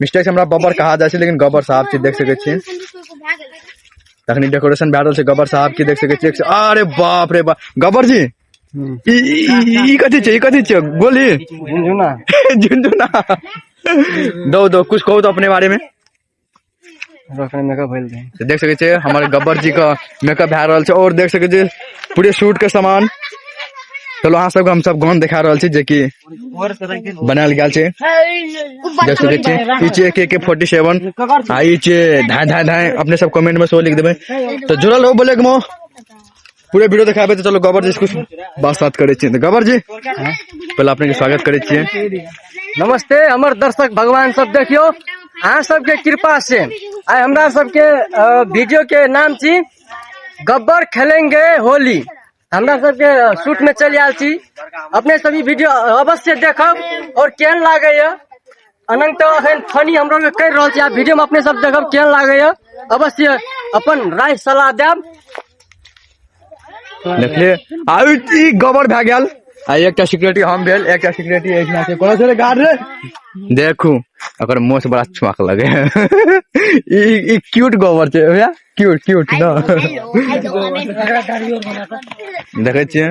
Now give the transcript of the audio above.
mistake से हमरा बबर कहा जाए लेकिन गबर साहब के देख सके छी तखनी डेकोरेशन भए रहल छै गबर साहब के देख सके छी अरे बाप रे बाप गबर जी ई कथी छै ई कथी छै गोली झुनझुना झुनझुना दो दो कुछ कहो तो अपने बारे में तो देख सके छे हमारे गब्बर जी का मेकअप भा रहल छे और देख सके छे पूरे शूट के सामान चलो अहाँ सबके हम सब गान दिखा रहल छी जे कि बनायल गेल छै देख सके छी ई छै एक एक फोर्टी सेवन आ ई छै ढाई ढाई ढाई अपने सब कमेंट में सेहो लिख देबै तो जुड़ल हो बोले के पूरे वीडियो देखाबे तो चलो गबर जी कुछ बात बात करे तो गबर जी पहले अपने के स्वागत करे नमस्ते हमर दर्शक भगवान सब देखियो अहाँ सबके कृपा से आइ हमरा सबके वीडियो के नाम छी गब्बर खेलेंगे होली हमरा सबके शूट में चल आयल छी अपने सभी वीडियो अवश्य देखब और केहन लागैया अनंत अखन फनी हमरो के कर रहल छी आ वीडियो में अपने सब देखब केहन लागैया अवश्य अपन राय सलाह देब देखले आ ई ई गोबर भए गेल आ एकटा सिक्योरिटी हम भेल एकटा सिक्योरिटी एहिना छै कोनो छै गार्ड रे देखू ओकर मुंह से बड़ा छुआक लगे ई ई क्यूट गोबर छै भैया क्यूट क्यूट ना देखे छियै